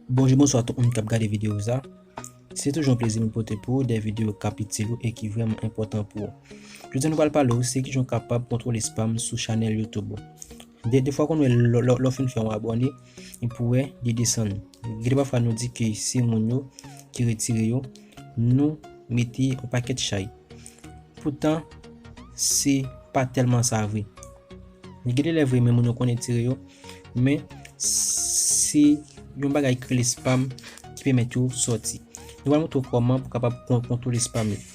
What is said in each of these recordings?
Bonjou bonswa tout moun kap gade videyo sa Se toujou yon plezi m pote pou ou de videyo kap itil ou e ki vreman enpòtan pou ou Jodi nou pral pale ou se kijan ou kapab kontwole spam sou chanèl YouTube ou De de fwa konn wè lò fin fè yon abone e pou wè li desann. Gen de pafwa nou di ke se moun yo ki retire yo, nou mete yon pakèt chay. Poutan se pa tèlman sa vre. Gen de lè vre men moun yo konn retire yo, men se yon bagay ki rele spam ki pèmèt yo sòti. Nou pral montre w kòman pou kapab kontwole spam yo.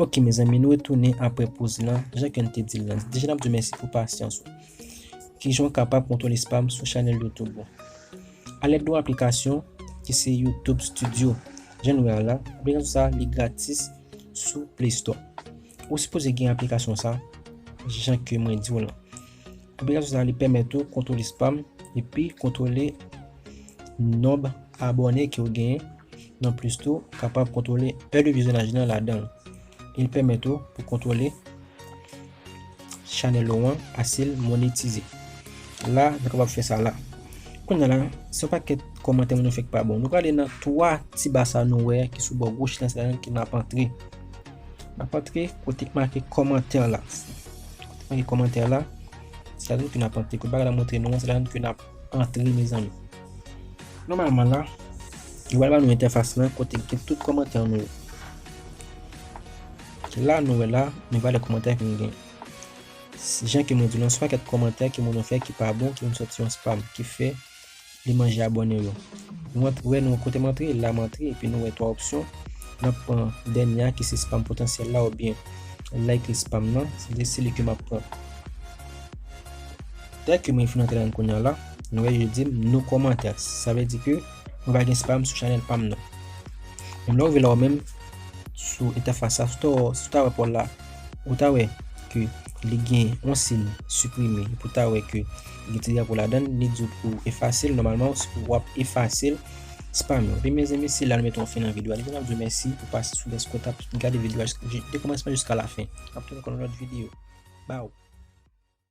Ok mezanmi nou retounen apre poz lan, jan ken te dil lan, deja nap diw mèsi pou pasyans ou. Kijan w kapab kontwole spam sou chanèl YouTube ou? A lèd yon aplikasyon ki se YouTube Studio, jan nou wè a la, aplikasyon sa li gratis sou Play Store. Ou sipoze gen aplikasyon sa jan ke mwen diw lan. Aplikasyon sa li pèmèt ou kontwole spam epi kontwole nonb abòne ke ou genyen, nan plis tou ou kapab kontwole è de vizyonaj lan ladanl. E li pèmèt ou pou kontwole chanèl ou an asil monetize. La nou kapab fè sa la. Kounye la, se yon pakèt kòmantè moun yo fè ki pa bon. Nou prale nan 3 ti ba sa nou wè ki sou bò goch lan se ladan ki nap antre. N ap antre kote ki make kòmantè la. Kote ki make kòmantè la, se la menm ke n ap antre. Kote bagay la montre nou an, se la menm ke n ap antre mezanmi. Nòmalman la, li pral ba nou entèfas lan kote ki gen tout kòmantè nou yo. La nou wè la, nou wè lè kòmantè ke nou gen. Jan ke mwen di nou an, swa kèk kòmantè ke moun yo fè ki pa bon, ki vin sòti an spam, ki fè li manje abòne yo. Nou ant wè nou kote m antre la m antre epi nou wè 3 opsyon nap pran dènye a ki se spam potansyèl la oubyen likely spam nan se de seli ke map pran dè ke mwen fin antre ladann kounya la nou wè yo dim no comments sa vle di ke mwen pa gen spam sou chanèl pam nan menm lè ou rive la ou menm sou entèfas sa sou ta wè sou ta wè pòl la ou ta wè ke li gen yon siy siprime pou ta wè ke Gen ti drapo ladan l, li di w pou w efase l, nòmalman w ap efase l. Spam yo. Ebyen mezanmi se la nou mete yon fen nan video a. Depi la m di w mèsi pou pas sou deske w t ap gade video a de kòmansman jiska lafen. Map tou nan yon lòt video. Baww.